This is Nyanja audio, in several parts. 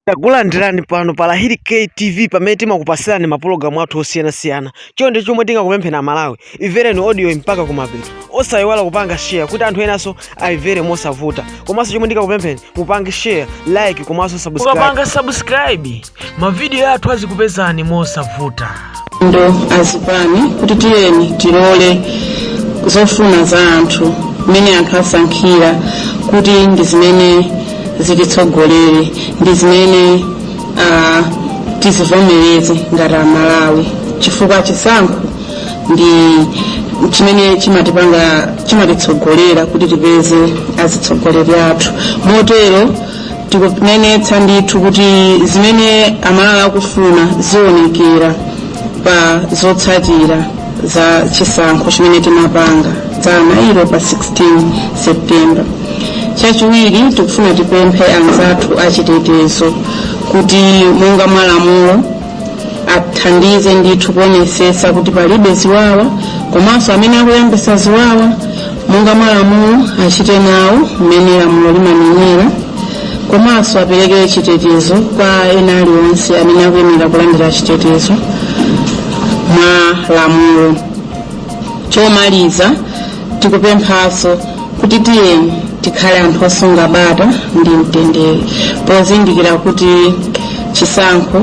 Takulandirani pano pa Lahiri K TV pamene timakupasirani mapulogalamu athu osiyanasiyana. Chonde chomwe tingakupempheni Amalawi, imvereni audioyi mpaka kumapeto. Osayiwala kupanga share kuti anthu enanso ayimvere mosavuta. Komanso chomwe ndingakupempheni mupange share, like komanso subscribe. Mukapanga subscribe, mavidiyo athu azikupezani mosavuta. ndo azipani kuti tiyeni tilole zofuna za anthu mmene anthu asankhira kuti ndi zimene zititsogolere ndi zimene ah, tizivomereze ngati amalawi chifukwa chisankho ndi chimene chimatipanga chimatitsogolera kuti tipeze azitsogoleri athu motero tikunenetsa ndithu kuti zimene amalawi akufuna zionekera pa zotsatira za chisankho chimene timapanga dzana ilo pa 16 september chachiwiri tikufuna tipemphe anzathu achitetezo kuti monga mwalamulo athandize ndithu kuonetsetsa kuti palibe ziwawa komanso amene akuyambisa ziwawa monga mwalamulo achite nawo mmene lamulo limanenera komanso apereke chitetezo kwa ena alionse amene akuyenera kulandira chitetezo mwa lamulo chomaliza tikupemphanso kuti tiyeni tikhale anthu osunga bata ndi mtendere pozindikira kuti chisankho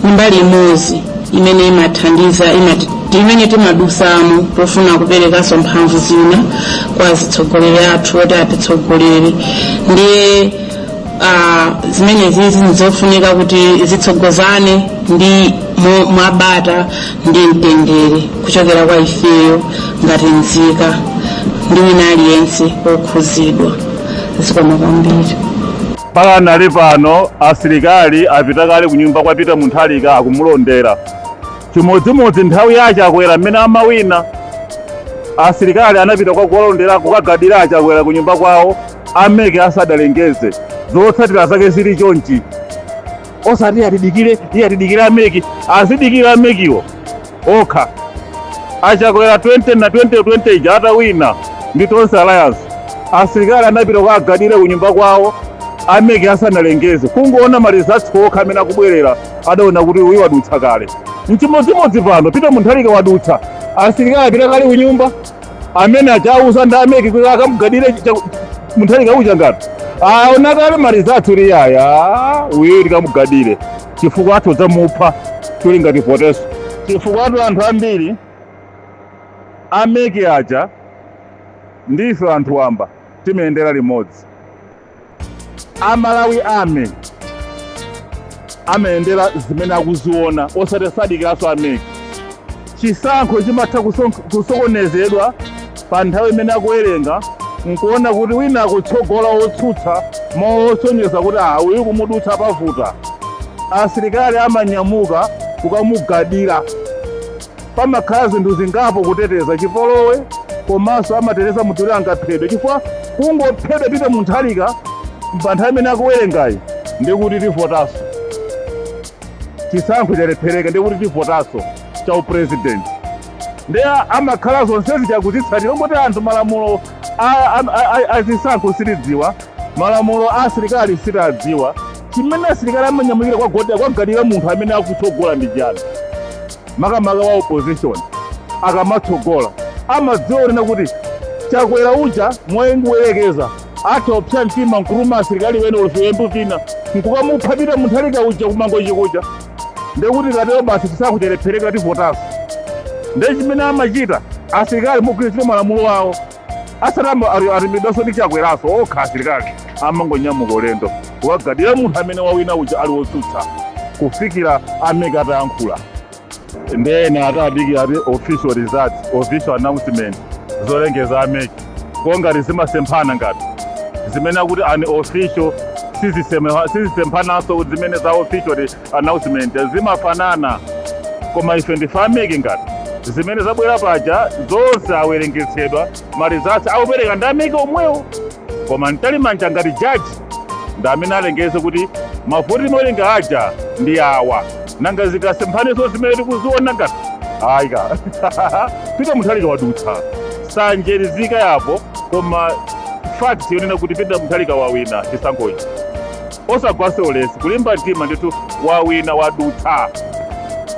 ndi mbali imodzi imene imathandiza imati- imene timadusamo pofuna kuperekanso mphamvu zina kwa azitsogoleri athu oti atitsogolere ndiye ah, zimenezizi ndizofunika kuti zitsogozane ndi mo- mwabata ndi mtendere kuchokera kwa ifeyo ngati nzika ndi wina aliyense wokhuzidwa zikomo kwambiri pakanali pano asilikali apita kale kunyumba kwa peter mutharika akumulondera chimodzimodzi nthawi ya chakwera mmene amawina asilikali anapita kwa kuwalondera kukagadira achakwera kunyumba kwawo a mec asadalengeze zotsatira zake zili chonchi osati atidikire iye atidikire a mec azidikire a mec-wo okha achakwera 20 na 2020 ija atawina ndi tonse alliance asilikali anapita kuwagadira kunyumba kwawo a mec asanalengeze kungoona ma results okha amene akubwerera adaona kuti uyu wadutsa kale mchimodzimodzi pano peter mutharika wadutsa asilikali apita kale kunyumba amene achauza ndi a mec kuti akamugadire mutharika uja ngati aona kale ma results kuti yaya uyu tikamugadire chifukwa atha kudzamupha chili ngati protection chifukwatu anthu ambiri a mec aja ndife anthu wamba timayendera limodzi amalawi ame amayendera zimene akuziona osati sadikiranso a MEC chisankho chimatha kuson- kusokonezedwa pa nthawi imene akuwerenga nkuona kuti wina akutsogola otsutsa mosonyeza kuti ah uyu kumudutsa pavuta asilikali amanyamuka kukamugadira Pamakhala zinthu zingapo kuteteza chipolowe komanso amateteza munthu kuti angaphedwe chifukwa kungophedwa Peter Mutharika pa nthawi imene akuwerengayi ndiye kuti tivotanso chisankho chalephereka ndiye kuti tivotanso cha upresident ndiye amakhala zonsezi akuzitsatira kungoti anthu malamulo a- a- a- a- azisankho sitiwadziwa malamulo a asilikali sitiwadziwa chimene asilikali amanyamukira kukagadira munthu amene akutsogola ndi chiyani makamaka wa opposition akamatsogola amadziwa kunena kuti Chakwera uja mongoyerekeza atha kupsa mtima nkutuma asilikali ena ulufiyembu vina nkukamupha Peter Mutharika uja ku Mangochi kuja ndekuti katero basi chisankho chalephereka tivotanso nde chimene amachita asilikali mogwirizira malamulo awo asalamu ali- atumidwanso ndi Chakweranso okha asilikali amangonyamuka ulendo wokagadira munthu amene wawina uja ali wotsutsa kufikira a MEC atayankhula nde ena atadikira ati official result official announcement zolengeza a MEC kongati zimasemphana ngati zimene akuti unofficial sizisemphananso zimene za official announcement zimafanana koma ife ndife a MEC ngati zimene zabwera paja zonse awerengetsedwa ma results akupereka ndi a MEC omwewo koma Mtalimanja ngati jaji ndi amene alengeze kuti mavoti timawerenga aja ndi awa nanga zikasemphananso zimene tikuziona ngati ayika Peter Mutharika wadutsa nsanje izikhalapo koma fact yonena kuti Peter Mutharika wawina chisankhochi osagwanso ulesi kulimba mtima ndithu wawina wadutsa.